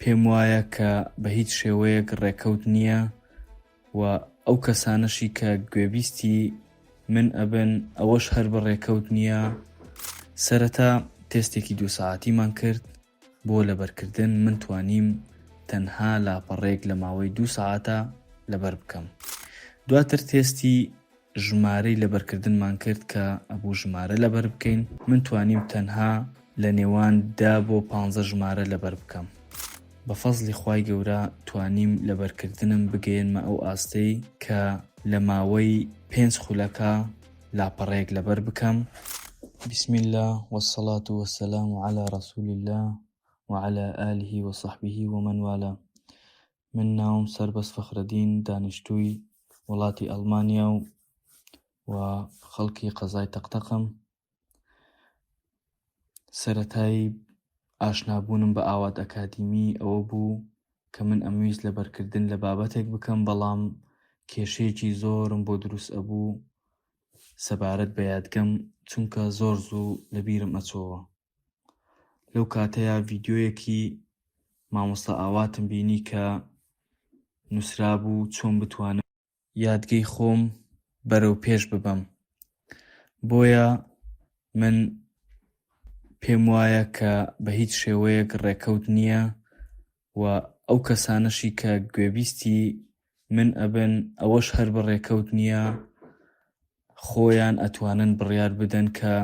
پێم وایە کە بە هیچ شێوەیەک ڕێکەوت نییە و ئەو کەسانەشی کە گوێبیستی من ئەبن ئەوەش هەر بە ڕێکەوت نییە سەرەتا تێستێکی دوو ساعتیمان کرد بۆ لەبەرکردن من توانیم تەنها لاپەڕێک لە ماوەی دوو ساعتە لەبەر بکەم دواتر تێستی ژمارەی لەبەرکردنمان کرد کە ئەبوو ژمارە لەبەر بکەین، من توانیم تەنها لە نێوان دە بۆ پانزە ژمارە لەبەر بکەم. بە فەزڵی خوای گەورە توانیم لەبەرکردنم بگەیەنمە ئەو ئاستەی کە لە ماوەی پێنج خولەکە لاپەڕەیەک لەبەر بکەم. بسم اللە والصلاة والسلام علی رسول اللە وعلی آله وصحبه ومن والاه من ناوم سەربەست فەخرەدین دانیشتووی وڵاتی ئەڵمانیا و و خەڵکی قەزای تەقتەقم سەتایی ئاشنابوونم بە ئاوات ئەکادیمی ئەوە بوو کە من ئەمویست لەبەرکردن لە بابەتێک بکەم بەڵام کێشەیەکی زۆرم بۆ دروست ئەبوو سەبارەت بە یادگەم چونکە زۆر زوو لەبیرم ئەچۆوە لەو کاتەیە ڤیدیۆیەکی مامۆستا ئاواتم بینی کە نووسرابوو چۆن بتوانم یادگەی خۆم بەرەو پێش ببەم بۆیە من پێم وایە کە بە هیچ شێوەیەک ڕێکەوت نییە و ئەو کەسانەشی کە گوێبیستی من ئەبن ئەوەش هەر بە ڕێکەوت نییە خۆیان ئەتوانن بڕیار بدەن کە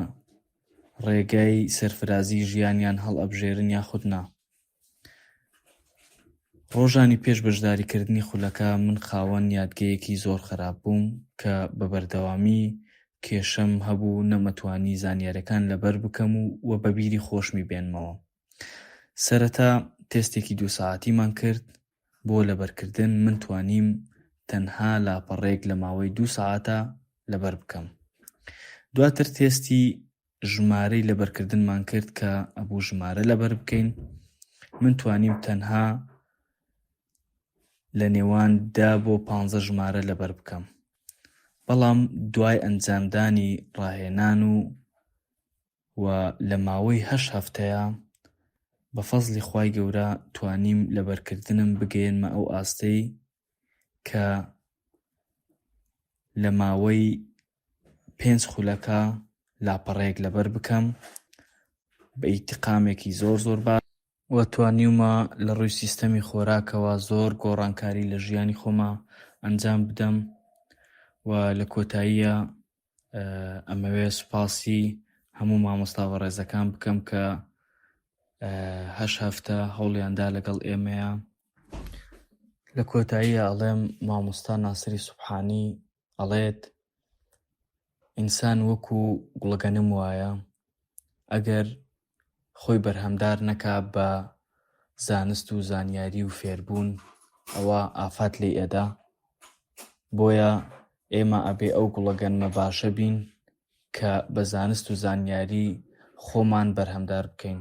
ڕێگای سەرفرازی ژیانیان هەڵئەبژێرن یاخود نا ڕۆژانی پێش بەشداریکردنی خولەکە من خاوەن یادگەیەکی زۆر خراپ بووم کە بە بەردەوامی کێشەم هەبوو نەمەتوانی زانیارەکان لەبەر بکەم و وە بەبیری خۆشمی بێنمەوە سەرەتا تێستێکی دوو سەعاتیمان کرد بۆ لەبەرکردن من توانیم تەنها لاپەڕەیەک لە ماوەی دوو سەعاتا لەبەر بکەم دواتر تێستی ژمارەی لەبەرکردنمان کرد کە ئەبوو ژمارە لەبەر بکەین من توانیم تەنها لە نێوان دا بۆ پ ژمارە لەبەر بکەم بەڵام دوای ئەنجامدانی ڕاهێنان و و لە ماوەی هەشت هەفتەیا بە فەزڵی خوای گەورە توانیم لە بەرکردنم بگەیەنمە ئەو ئاستەی کە لە ماوەی پێنج خولەکە لاپەڕەیەک لەبەر بکەم بە ئیتقامێکی زۆر زۆر با و توانیومە لە ڕووی سیستەمی خۆراکەوە زۆر گۆڕانکاری لە ژیانی خۆما ئەنجام بدەم و لە کۆتاییە ئەمەوێ سوپاسی هەموو مامۆستا بە ڕێزەکان بکەم کە هەش هەفتە هەوڵیاندا لەگەڵ ئێمەیە لە کۆتاییە ئەڵێم مامۆستا ناسری سوبحانی ئەڵێت ئینسان وەکو گوڵگەنم وایە ئەگەر خۆی بەرهەمدار نەکا بە زانست و زانیاری و فێربوون ئەوە ئافات لی ئەدا بۆیە ئێمە ئەبێ ئەو گوڵەگەنمە باشە بین کە بە زانست و زانیاری خۆمان بەرهەمدار بکەین